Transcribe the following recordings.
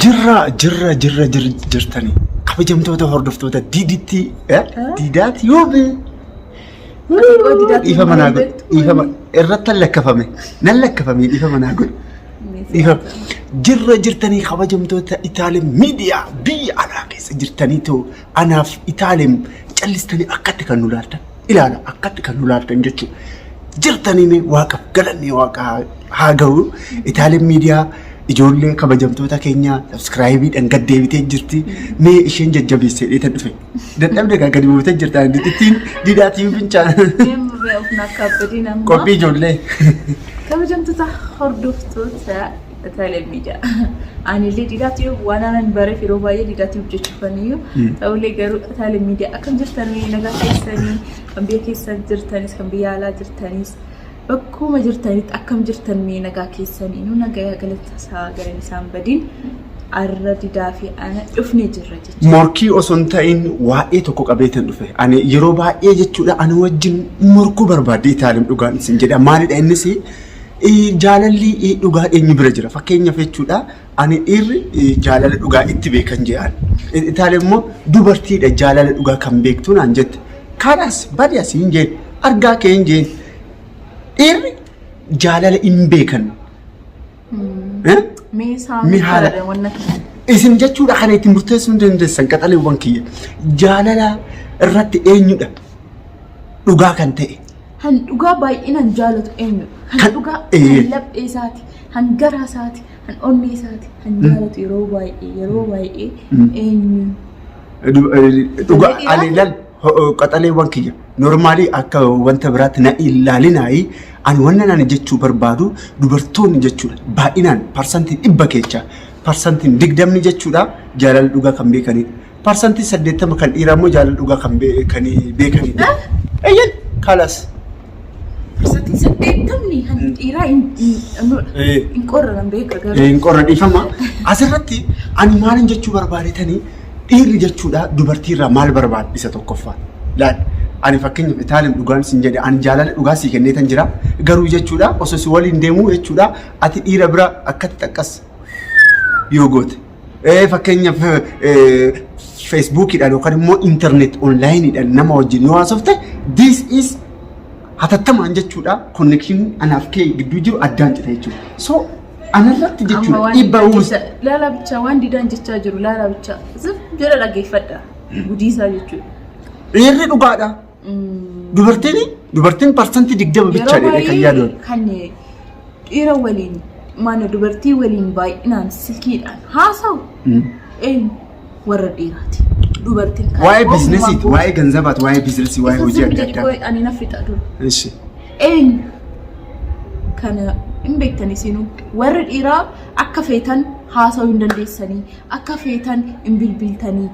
Jirra jirra jirra jir- jirtanii kabajamtoota hordoftoota diiditti diidaati yoo bee Xiqqoo didaatti dhiifa manaa hin godhu beektu. dhiifa ma- irratti hin lakkafame nan lakkafame dhiifa manaa godhu dhiifa jirra jirtanii kabajamtoota itaalim miidiyaa biyya alaa keessa jirtanii too anaaf itaalim callistanii akkatti kan nu laaltan ilaala akkatti kan nu laaltan jechuudha. Jirtanii mee waaqaf galanni waaqa haa ga'u. Itaaleen miidiyaa ijoollee kabajamtoota keenyaa sabskraayibiidhaan gad deebitee jirti. Mee isheen jajjabeessee dheetan dhufe. Dadhabde gaa gadi buutee jirta. Ittiin diidaa tiiviin fincaan. Deemurree of naaf kaabbadiin amma. Qophii ijoollee. Kabajamtoota hordoftoota Taayilee miidiyaa. Ani illee didaatti waan aanan bareef yeroo baay'ee didaatti hojjechuufaniyyuu ta'ullee garuu taayilee miidiyaa akkam jirtanii nagaa keessanii kan biyya keessa jirtanis kan biyya alaa jirtanis bakkuma jirtanitti akkam jirtan mee nagaa keessanii nu nagayaa galata isaa galan isaan badiin arra didaa fi ana dhufne jirra jechuudha. Morkii osoo hin ta'in waa'ee tokko qabeetan dhufe. Ani yeroo baay'ee jechuudha ani wajjin morkuu barbaadde Itaalim dhugaan isin jedha. Maalidha innis Jaalalli dhugaa eenyu bira jira? Fakkeenyaaf jechuudha ani dhiirri jaalala dhugaa itti beekan jedhaan. Itaan immoo dubartiidha jaalala dhugaa kan beektu naan jette. Kanas badi asii hin jeen argaa kee hin jeen. Dhiirri jaalala hin beekan. Mee isaan Mee haala- fayyada wanna kana. Isin jechuudha kana itti murteessuu hin dandeessan qaxaleewwan kiyya. Jaalala irratti eenyudha dhugaa kan ta'e? Kan dhugaa baay'inaan jaalatu eenyudha? Kan Kan- dhugaa ee. kan laphee isaati, kan garaa isaati, kan onnee isaati, kan jaalatu yeroo baay'ee yeroo baay'ee Mm. eenyu? Du- eh, Dhugaa Ijoollee ani dhiiraa? lal ho- ho- qaxaleewwan kiyya normaalii akka wanta biraatti na ilaalinaayi ani wanna nani jechuu barbaadu dubartoonni jechuudha baay'inaan parsantiin dhibba keessa parsantiin digdamni jechuudha jaalala dhugaa kan beekanidha. Parsantiin 80 kan dhiiraa immoo jaalala dhugaa kan bee- kan beekanii dha. Eeyyeen kalas. Parsantiin saddeettamni kan dhiiraa hin dhabnudha. Eh. Hin qorran beeka garuu. Hin qorra dhiifama. Asirratti ani maalin jechuu barbaadetanii dhiirri jechuudha dubartiirraa maal barbaada isa tokkoffaa. Laal ani fakkeenyaaf itaalin dhugaan sin jedhe ani jaalala dhugaa sii kenneetan jira garuu jechuudha osoo si waliin deemuu jechuudha ati dhiira bira akkatti xaqqas yoo goote. Eh, Fakkeenyaaf eh, feesbuukiidhaan yookaan immoo intarneet onlaayiniidhaan nama wajjin yoo haasofte this is hatattamaan jechuudha konnekshinii anaaf kee gidduu jiru addaan cita jechuudha. So anarratti Amma jechuudha waan dhiibbaa didaan uumsa. jecha- Laala bichaa waan didaan jechaa jiru laala bichaa. Zim jedha dhaggeeffadha. Gudiisaa jechuudha. Dhiirri dhugaadha. Dubartiin dubartiin parsantii digdama bicha Yeroo jedhee kan baay'ee yaadoon. kan dhiira waliin mana dubartii waliin baay'inaan silkiidhaan haasa'u eenyu warra dhiiraati. Dubartiin kan Waa'ee ogummaa biizinasiiti, gooti. waa'ee ganzabaati, waa'ee biizinasii, waa'ee Isa hojii sirbi adda jedhi qoy addaa. ani na fixa dura. Ishi. Eenyu kana hin beektan isinuu warri dhiiraa akka feetan haasa'uu hin dandeessanii akka feetan hin bilbiltanii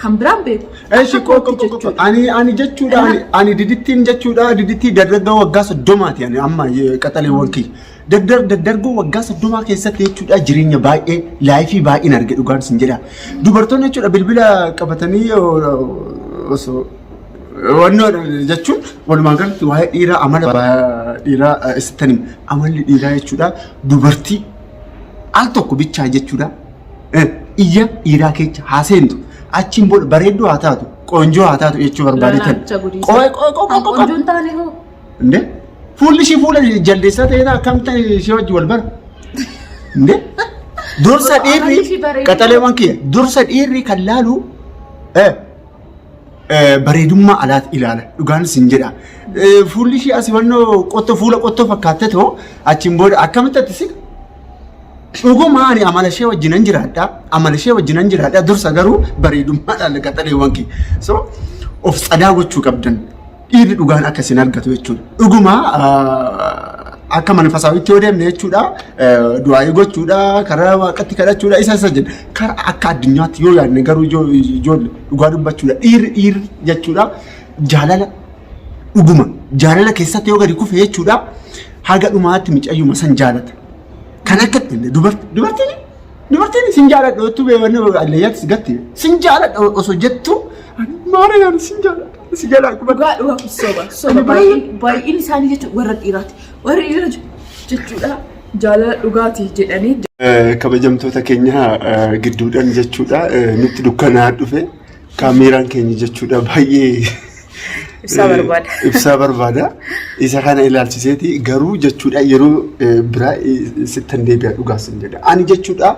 Kan biraan beeku. Eshi Akka kootti qoqqo qoqqo jechuudha. ani ani jechuudha ani ani didittiin jechuudha didittii dardargaa waggaa soddomaati ani amma eh, qaxaleewwan kiyya daddar daddargoo waggaa soddomaa keessatti jechuudha jireenya baay'ee laayifii baay'een arge dhugaan sin jedha dubartoonni jechuudha bilbila qabatanii oh, osoo wannoo jechuun walumaa galatti waa'ee dhiiraa amala ba- dhiiraa eh, isittan hima. amalli dhiiraa jechuudha dubartii al tokko bichaa jechuudha iyya dhiiraa keessa haa seentu. Achiin booda bareedduu haa taatu, qoonjoo haa taatu jechuu barbaadeetan. Qo'e qo'e qo'e qo'e qo'e. Qoonjoon taane hoo? Inde fuulli ishii fuula jaldeessaa ta'ee taa akkam ta'e ishee wajji wal bara. Inde dursa dhiirri qaxaleewwan kiyya dursa dhiirri kan laalu eh, eh, bareedummaa alaati ilaala dhugaan isin jedha. Eh, Fuulli ishii asii wannoo qottoo fuula qottoo fakkaatte ta'u achiin booda akkamitti ati si Dhuguma ani amala ishee wajjinan jiraadha. Amala ishee wajjinan jiraadha. Dursa garuu bareedummaadhaan qaxaleewwan kee. So of tsadaa gochuu qabdan. Dhiirri dhugaan akka isin argatu jechuudha. Dhuguma ah, akka mana fasaawitti yoo deemne jechuudha. eh, Du'aa'ii gochuudha. Karaa waaqatti kadhachuudha. Isa isa jenna. Karaa akka addunyaatti yoo yaadne garuu ijoo- ijoolle dhugaa dubbachuudha. Dhiirri dhiirri jechuudha. Jaalala dhuguma jaalala keessatti yoo gadi kufe jechuudha Haga dhumaatti micayyuma san jaalata. Kan akka dubartiin dubartiin sin jaaladha ottuu beewanne alleeyyaatti si gatte sin jaaladha osoo jettu maara yaani sin jaaladha si jalaa kuma. Dhugaa dhugaa kun soba soba baay'een baay'een isaanii jechuun warra dhiiraati warri dhiira jechuudha jaalala dhugaati jedhanii kabajamtoota keenya gidduudhaan jechuudha nutti dukkanaa dhufe. Kaameeraan keenya jechuudha baay'ee Ibsaa barbaada. ibsaa barbaada. Isa kana ilaalchiseeti garuu jechuudha yeroo eh, biraa eh, sittan deebi'a dhugaa sin jedha. Ani jechuudha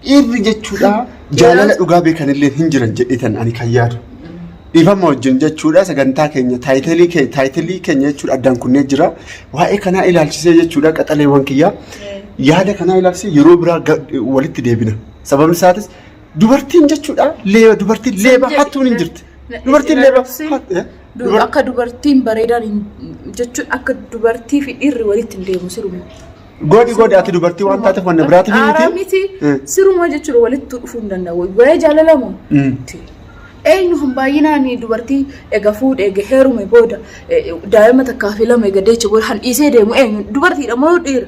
dhiirri jechuudha jaalala dhugaa beekanillee hin jiran jedheetan ani kan yaadu. Dhiifama wajjin jechuudha sagantaa keenya taayitilii keenya taayitilii keenya jechuudha addaan kunnee jira. Waa'ee kanaa ilaalchisee jechuudha qaxaleewwan kiyyaa yaada kanaa ilaalchisee yeroo biraa ga- walitti deebina. Sababni isaatis Dubartiin jechuudha leeba dubartiin leeba hattuun hin jirti. Dubartiin leeba hattu- eh? Du- Dubar- Akka dubartiin bareedaan hin- jechuun akka dubartii fi dhiirri walitti hin deemu siruma. Goodi goodi ati dubartii waan taateef wanna biraatiif hin Aaraa miti. miti Eh. siruma jechuudha walitti dhufuu hin danda'u. Waa'ee jaalala moo? Mm. Ti. Eenyu kan baay'inaan dubartii eega fuudhe eega heerume booda eh, daa'ima takkaa fi lama eega deecha booda kan dhiisee deemu eenyu dubartiidha moo dhiira?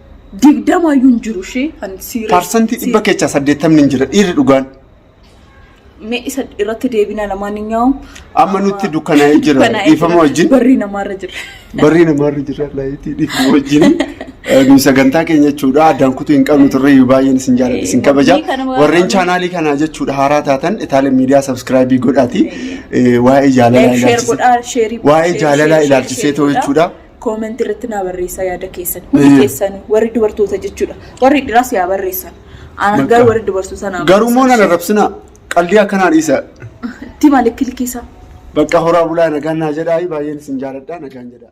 digdamaayyuu hin jiru ishee kan siiree. Parsantii dhibba keessaa saddeettamni hin jira dhiirri dhugaan. Mee isa irratti deebina lamaan hin nyaa'u. Amma nutti dukkanaa'ee jira Dukkanaa'ee dhiifama jira. wajjin. Barri namaarra jira. Barri namaarra jira laayitii dhiifama wajjin. Eh, Nuyi sagantaa keenya jechuudha addaan kutuu hin qabnu turre iyyuu baay'een isin jaalladha isin kabaja. Warri kana waan- Warreen chaanaalii kanaa jechuudha haaraa taatan itaalee miidiyaa sabskraayibii godhaati. Eh, Waa'ee jaalalaa Like, share ilaalchisee. godhaa, share- Waa'ee share- jaalalaa share- ilaalchisee share ta'u godhaa. jechuudha. Comment irratti naa barreessaa yaada keessan. Hundi Eeyyee. keessan warri dubartoota jechuudha. Warri dhiraas yaa barreessan. Ana garuu warri dubartoota naa Garuu moo nan barreessan. arrabsinaa? Qaldii akkanaa dhiisa. Tima likki likki isaa. Bakka horaa bulaa nagaan naa jedhaa baay'een isin jaaladha nagaan jedhaa.